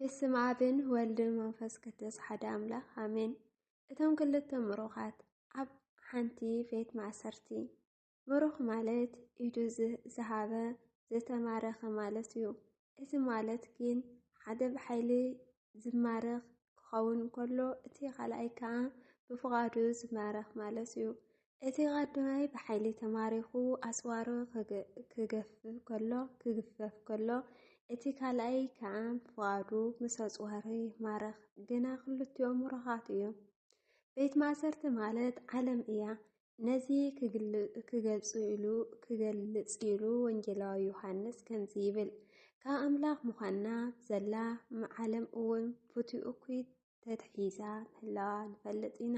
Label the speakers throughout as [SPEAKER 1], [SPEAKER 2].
[SPEAKER 1] ብስም ኣብን ወልድን መንፈስ ቅዱስ ሓደ ኣምላኽ ኣሜን። እቶም ክልተ ምሩኻት ኣብ ሓንቲ ቤት ማእሰርቲ። ምሩኽ ማለት ኢዱ ዝሃበ ዝተማረኸ ማለት እዩ። እዚ ማለት ግን ሓደ ብሓይሊ ዝማረኽ ክኸውን ከሎ እቲ ካልኣይ ከዓ ብፍቓዱ ዝማረኽ ማለት እዩ። እቲ ቐዳማይ ብሓይሊ ተማሪኹ ኣጽዋሩ ክገፍፍ ከሎ ክግፈፍ ከሎ እቲ ካልኣይ ከዓ ፍቓዱ ምስ ኣጽዋሩ ይማረኽ። ግና ክልቲኦም ምሩኻት እዮም። ቤት ማእሰርቲ ማለት ዓለም እያ። ነዚ ክገልጽ ኢሉ ክገልጽ ኢሉ ወንጌላዊ ዮሃንስ ከምዚ ይብል ካብ ኣምላኽ ምዃንና ዘላ ዓለም እውን ፍትኡ እኩይ ተትሒዛ ምህላዋ ንፈልጥ ኢና።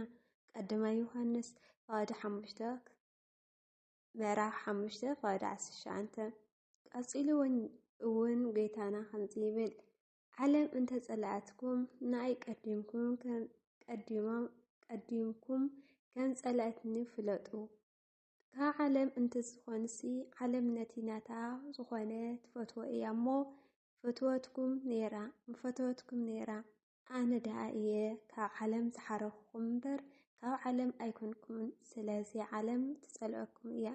[SPEAKER 1] ቀዳማይ ዮሃንስ ፋዋዲ ሓሙሽተ ምዕራፍ ሓሙሽተ ፋዋዲ ዓሰርተ ትሽዓተ ቀጺሉ እውን ጌታና ከምዚ ይብል ዓለም እንተ ጸላኣትኩም ንኣይ ቀዲምኩም ቀዲምኩም ከም ጸላእትኒ ፍለጡ ካብ ዓለም እንተ ዝኾንሲ ዓለም ነቲ ናታ ዝኾነ ትፈትዎ እያ እሞ ፈትወትኩም ነይራ ምፈተወትኩም ነይራ። ኣነ ደኣ እየ ካብ ዓለም ዝሓረኹኹም እምበር ካብ ዓለም ኣይኮንኩምን ስለዚ ዓለም ትጸልኣኩም እያ።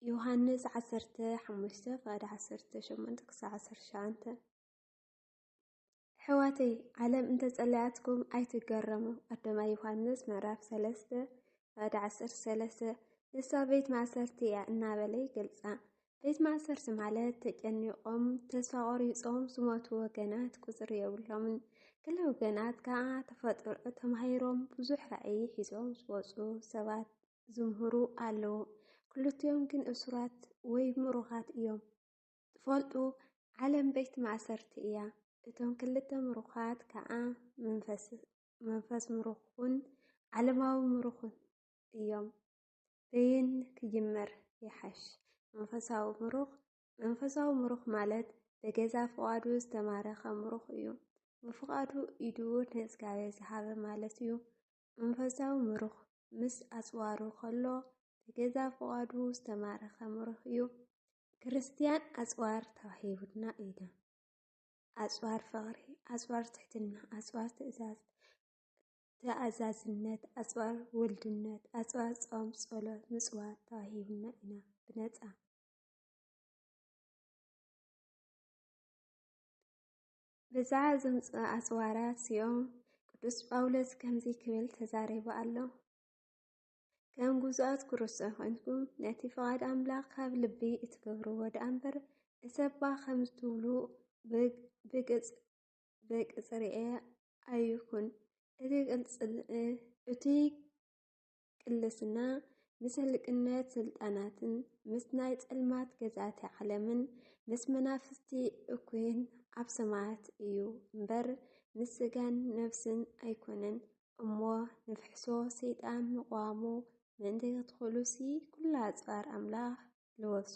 [SPEAKER 1] ዮሃንስ ዓሰርተ ሓሙሽተ ፍቓድ ዓሰርተ ሸሞንተ ክሳዕ ዓሰርተ ትሽዓተ ሕዋተይ ዓለም እንተጸለያትኩም ኣይትገረሙ ኣዶማ ዮሃንስ ምዕራፍ ሰለስተ ባዕዲ ዓሰርተ ሰለስተ ንሳ ቤት ማእሰርቲ እያ እናበለ ይገልጻ። ቤት ማእሰርቲ ማለት ተጨኒቖም ተስፋ ቆሪጾም ዝሞቱ ወገናት ቁፅሪ የብሎምን። ገለ ወገናት ከዓ ተፈጥሮ ተማሂሮም ብዙሕ ራዕይ ሒዞም ዝወፁ ሰባት ዝምህሩ ኣለዉ። ክልቲኦም ግን እሱራት ወይ ምሩኻት እዮም። ትፈልጡ ዓለም ቤት ማእሰርቲ እያ። እቶም ክልተ ምሩኻት ከኣ መንፈስ ምሩኽን ዓለማዊ ምሩኽን እዮም። በየን ክጅመር ይሓሽ? መንፈሳዊ ምሩኽ መንፈሳዊ ምሩኽ ማለት በገዛ ፍቓዱ ዝተማረኸ ምሩኽ እዩ። ብፍቓዱ ኢዱ ንእግዚኣብሔር ዝሃበ ማለት እዩ። መንፈሳዊ ምሩኽ ምስ ኣጽዋሩ ከሎ በገዛ ፍቓዱ ዝተማረኸ ምሩኽ እዩ። ክርስትያን ኣጽዋር ተዋሂቡና ኢና። ኣጽዋር ፍቕሪ፣ ኣጽዋር ትሕትና፣ ኣጽዋር ትእዛዝ ተኣዛዝነት፣ ኣጽዋር ውልድነት፣ ኣጽዋር ጾም፣ ጸሎት፣ ምጽዋት ተዋሂቡና ኢና ብነጻ። በዛ ዝምፅኡ ኣጽዋራት እዚኦም ቅዱስ ጳውሎስ ከምዚ ክብል ተዛሪቡ ኣሎ። ከም ግዙኣት ክርስቶስ ኮይንኩም ነቲ ፍቓድ ኣምላኽ ካብ ልቢ እትገብርዎ ደኣ እምበር እሰባ ከም ዝትብሉ ብቅጽርኤ ኣይኩን። እቲ ቅልስና ምስ ህልቅነት ስልጣናትን ምስ ናይ ጸልማት ገዛእቲ ዓለምን ምስ መናፍስቲ እኩይን ኣብ ሰማያት እዩ እምበር ምስ ስጋን ነፍስን ኣይኮነን። እሞ ንፍሕሶ ሰይጣን ምቕዋሙ ምእንቲ ክትኽእሉሲ ኩላ ኣጽዋር ኣምላኽ ልወሱ።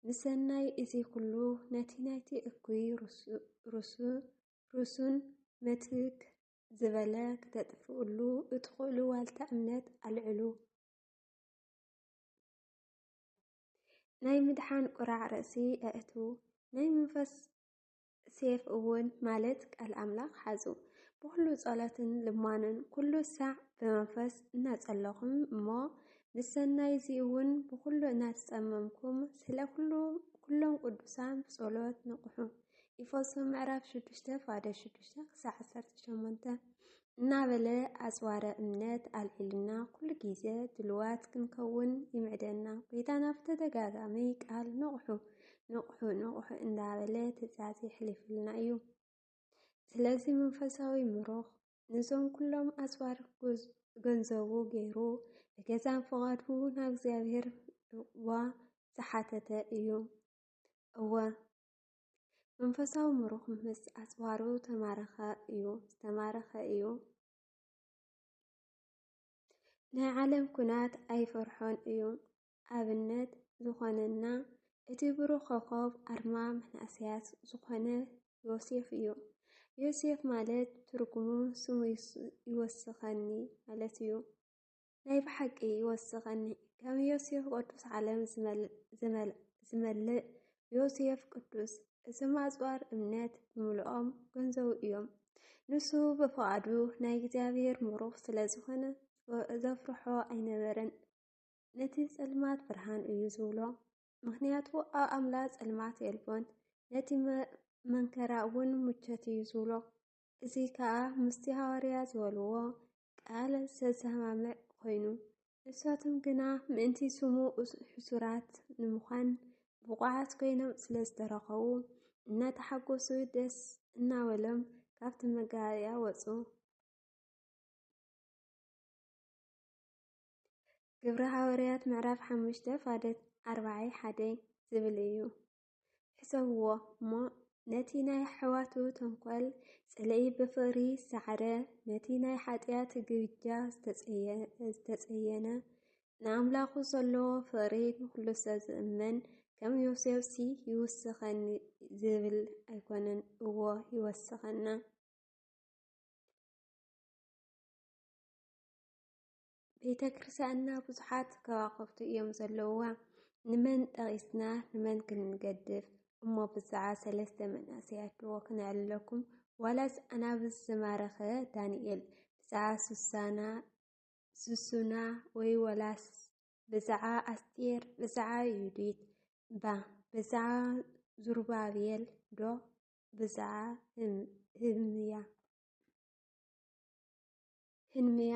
[SPEAKER 1] ምሰናይ እዚ ኩሉ ነቲ ናይቲ እኩይ ርሱን መትክ ዝበለ ክተጥፍእሉ እትኽእሉ ዋልታ እምነት ኣልዕሉ። ናይ ምድሓን ቁራዕ ርእሲ ኣእትዉ። ናይ መንፈስ ሴፍ እውን ማለት ቃል ኣምላኽ ሓዙ ብኩሉ ጸሎትን ልማንን ኩሉ ሳዕ ብመንፈስ እናጸለኹም እሞ ምስ ሰናይ እዚ እውን ብኩሉ እናተጸመምኩም ስለ ኩሉ ኩሎም ቅዱሳን ብጸሎት ንቕሑ ኢፈሶ ምዕራፍ 6 ፋደ 6 ክሳዕ 18 እናበለ ኣጽዋረ እምነት ኣልዒሉና ኩሉ ግዜ ድልዋት ክንከውን ይምዕደና ጎይታና ብተደጋጋሚ ቃል ንቕሑ ንቕሑ ንቕሑ እንዳበለ ትእዛዝ የሕሊፍልና እዩ። ስለዚ መንፈሳዊ ምሩኽ ንዞም ኩሎም ኣጽዋር ገንዘቡ ገይሩ ብገዛን ፍቓዱ ናብ እግዚኣብሔር ዋ ዝሓተተ እዩ። እወ መንፈሳዊ ምሩኽ ምስ ኣጽዋሩ ተማረኸ እዩ ዝተማረኸ እዩ። ናይ ዓለም ኩናት ኣይፈርሖን እዩ። ኣብነት ዝኾነና እቲ ብሩኽ ኮኸብ ኣርማ መናእሰያት ዝኾነ ዮሴፍ እዩ። ዮሴፍ ማለት ትርጉሙ ስሙ ይወስኸኒ ማለት እዩ። ናይ ብሓቂ ይወስኸኒ ከም ዮሴፍ ቅዱስ ዓለም ዝመልእ ዮሴፍ ቅዱስ እዞም ኣጽዋር እምነት ብምልኦም ገንዘቡ እዮም ንሱ ብፍቓዱ ናይ እግዚኣብሔር ምሩኽ ስለ ዝኾነ ዘፍርሖ ኣይነበረን ነቲ ጸልማት ብርሃን እዩ ዝብሎ ምክንያቱ ኣብ ኣምላ ጸልማት የልቦን ነቲ መንከራ እውን ሙቸት እዩ ዝብሎ እዚ ከዓ ምስቲ ሃዋርያ ዝበልዎ ቃለ ዘሰማምዕ ኮይኑ እሳቶም ግና ምእንቲ ስሙ ሕሱራት ንምዃን ብቑዓት ኮይኖም ስለ ዝተረኸቡ እናተሓጎሱ ደስ እናበሎም ካብቲ መጋባእያ ወፁ። ግብረ ሃዋርያት ምዕራፍ ሓሙሽተ ፋደት ኣርባዓይ ሓደ ዝብል እዩ። ሕሰብዎ እሞ ነቲ ናይ ኣሕዋቱ ተንኮል ጽልኢ ብፍቕሪ ዝሰዓረ ነቲ ናይ ሓጢኣት ግብጃ ዝተጸየነ ንኣምላኹ ዘለዎ ፍቕሪ ንኹሉ ሰብ ዝእመን ከም ዮሴፍሲ ይውስኸኒ ዝብል ኣይኮነን እዎ ይወስኸና ቤተ ክርስቲያንና ብዙሓት ከዋኽብቲ እዮም ዘለውዋ። ንመን ጠቒስና ንመን ክንገድፍ እሞ ብዛዕባ ሰለስተ መንእሰያት ድዎ ክነዕልለኩም ዋላስ ኣናብስ ዝማረኸ ዳንኤል ብዛዕባ ሱሳና ሱሱና ወይ ዋላስ ብዛዕባ ኣስጢር ብዛዕባ ዩዲት ባ ብዛዕባ ዙርባቤል ዶ ብዛዕባ ህምያ ህንምያ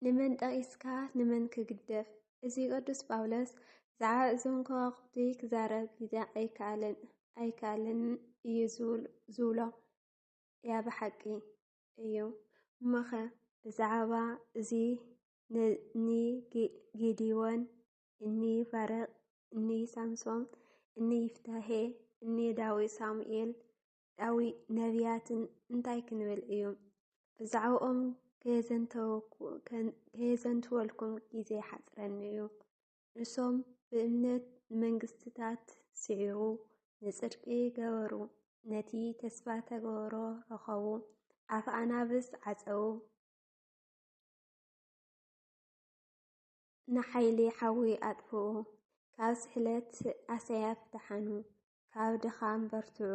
[SPEAKER 1] ንመን ጠቒስካ ንመን ክግደፍ እዚ ቅዱስ ጳውሎስ ብዛዕባ እዞም ከዋኽብቲ ክዛረብ ግዜ ኣይከኣለን ኣይከኣለን እዩ ዝብሎ እያ ብሓቂ እዩ እሞኸ ብዛዕባ እዚ እኒ ጌዲዎን እኒ ባረቅ እኒ ሳምሶም እኒ ይፍታሄ እኒ ዳዊት ሳሙኤል ዳዊ ነቢያትን እንታይ ክንብል እዮም? ብዛዕባኦም ከየዘንትወልኩም ግዜ ሓጽረኒ እዩ። ንሶም ብእምነት ንመንግስትታት ስዒሩ፣ ንጽድቂ ገበሩ፣ ነቲ ተስፋ ተገብሮ ረኸቡ፣ ኣፍ ኣናብስ ዓጸዉ፣ ንሓይሊ ሓዊ ኣጥፍኡ፣ ካብ ስሕለት ኣሰያፍ ደሓኑ፣ ካብ ድኻም በርትዑ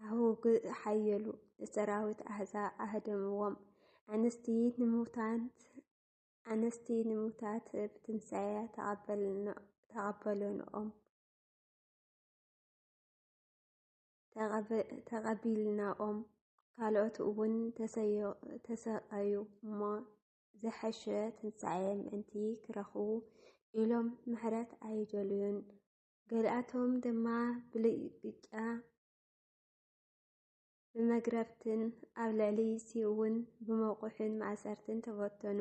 [SPEAKER 1] ኣውግእ ሓየሉ ንሰራዊት ኣህዛብ ኣህደምዎም ኣንስቲ ንሙታንት ኣንስቲ ንሙታት ብትንሳኤ ተቐበልንኦም ተቐቢልናኦም ካልኦት እውን ተሰቀዩ እሞ ዝሐሸ ትንሳኤ ምእንቲ ክረኽቡ ኢሎም ምሕረት ኣይደልዩን። ገሊኣቶም ድማ ብልግጫ ብመግረፍትን ኣብ ልዕሊ ሲእውን ብመቑሕን ማእሰርትን ተበተኑ።